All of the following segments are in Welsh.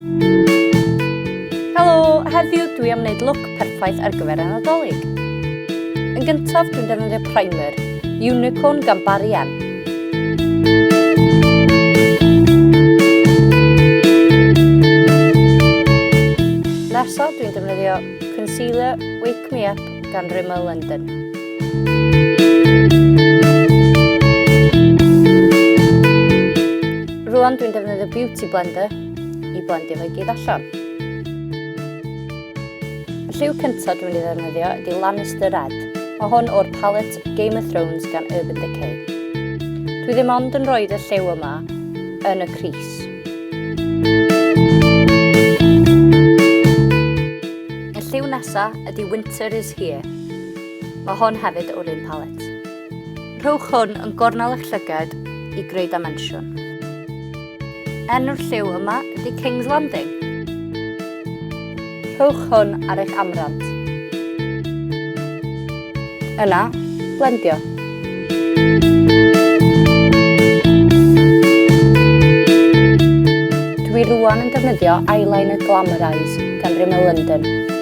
Helo, heddiw dwi am wneud look perffaith ar gyfer y Nadolig. Yn gyntaf, dwi'n defnyddio primer, Unicorn gan Barry M. Nesaf, dwi'n defnyddio concealer Wake Me Up gan Rimmel London. Rwan dwi'n defnyddio Beauty Blender i blendio fe gyd allan. Y lliw cyntaf dwi'n ei ddefnyddio ydy Lannister Red. Mae hwn o'r palet Game of Thrones gan Urban Decay. Dwi ddim ond yn rhoi y lliw yma yn y cris. Y lliw nesaf ydy Winter is Here. Mae hwn hefyd o'r un palet. Rhowch hwn yn gornel eich llygad i greu dimensiwn. Enw'r lliw yma ydy King's Landing. Rhowch hwn ar eich amrant. Yna, blendio. Dwi rwan yn defnyddio eyeliner Glamorize gan Rimmel London.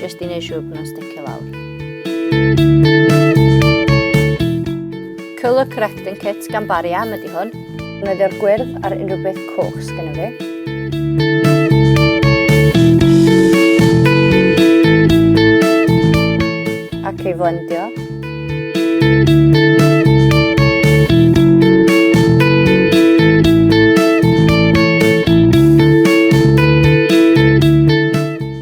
Jyst i neud siŵr bod nhw'n sticio lawr. Colour correcting kit gan Barry M ydy hwn. Nodio'r gwyrdd ar unrhyw beth coch sgynnu fi. Ac ei flendio.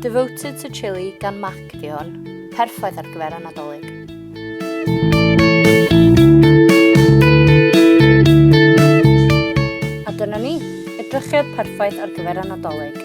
Devoted to Chili gan Mac di hwn. Perffaith ar gyfer y Nadolig. A dyna ni, edrychiad perffaith ar gyfer y Nadolig.